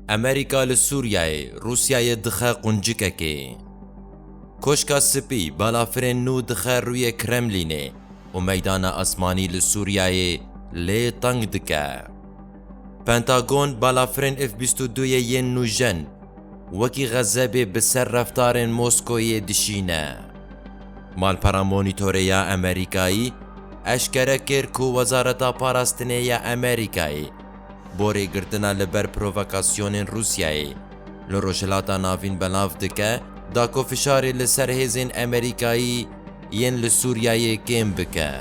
Amerîka li Sûriyeyê Rûsyayê dixe quncikekê. Koşka Spî balafirên nû dixe rûyê Kremlînê û meydana esmanî li Sûriyeyê lê teng dike. Pentagon balafirên F bîst û du yê yên nûjen wekî xezebê bi ser reftarên Moskoyê dişîne. Malpera Monitorê ya Amerîkayî eşkere kir ku Wezareta Parastinê ya Amerîkayê, borê girtina li ber provokasyonên Rûsyayê, li Rojhilata Navîn belav dike da ku fişarê li ser hêzên Emerîkayî yên li Sûriyeyê kêm bike.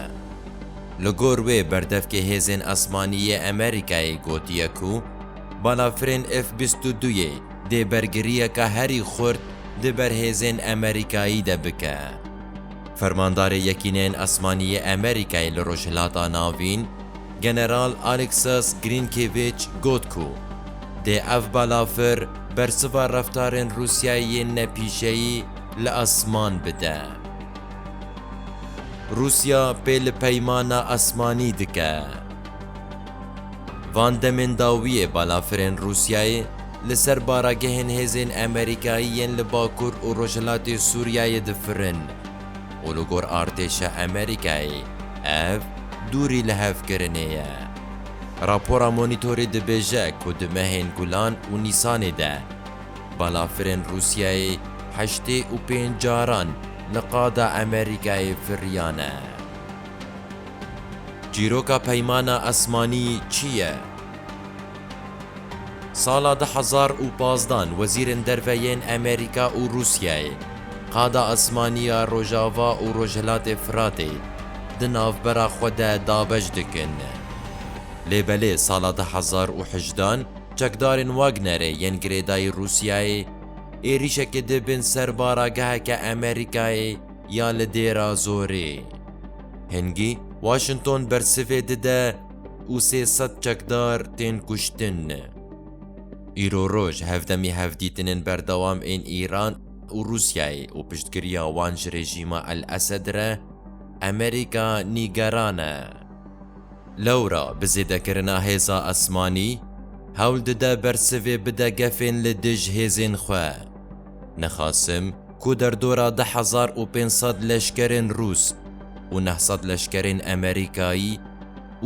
Li gor wê berdevkê hêzên esmanî yê Emerîkayê gotiye ku balafirên F bîst û du yê dê bergiriyeke herî xurt di ber hêzên Emerîkayî de bike. Fermandarê Yekîneyên Esmanî yê Emerîkayê li Rojhilata Navîn, General Alexas Grînkêvîç got ku dê ev balafir bersiva reftarên Rûsyayê yên nepîşeyî li esman bide. Rûsya pê li peymana esmanî dike. Van demên dawiyê balafirên Rûsyayê li ser baragehên hêzên Amerîkayî yên li Bakur û Rojhilatê Sûriyeyê difirin. û li gor artêşa Amerîkayê ev dûrî lihevkirinê ye. Rapora Monîtorê dibêje ku di mehên Gulan û Nîsanê de balafirên Rûsyayê heştê û pênc caran li qada Amerîkayê firiyane. Çîroka Peymana Esmanî çi ye? Sala du hezar û pazdeh in wezîrên derve yên Amerîka û Rûsyayê qada esmanî ya Rojava û Rojhilatê Firatê di navbera xwe de dabeş dikin. Lê belê sala du hezar û hejdeh in çekdarên Wagnerê yên girêdayî Rûsyayê êrîşekê dibin ser barageheke Amerîkayê ya li Dêra Zorê. Hingî Washington bersivê dide, û sê sed çekdar tên kuştin. Îro roj hevdemî hevdîtinên berdewam ên Îran û Rûsyayê û piştgiriya wan ji rejîma El Esed re Amerîka nîgeran e. Lewra bi zêdekirina hêza esmanî hewl dide bersivê bide gefên li dij hêzên xwe. Nixasim ku derdora du hezar û pênc sed leşkerên Rûs û neh sed leşkerên Emerîkayî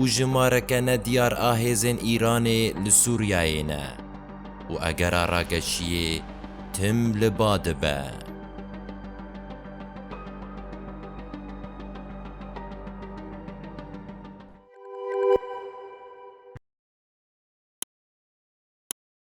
û jimareke ne diyar a hêzên Îranê li Sûriyeyê ne û egera rageşiyê tim li ba dibe.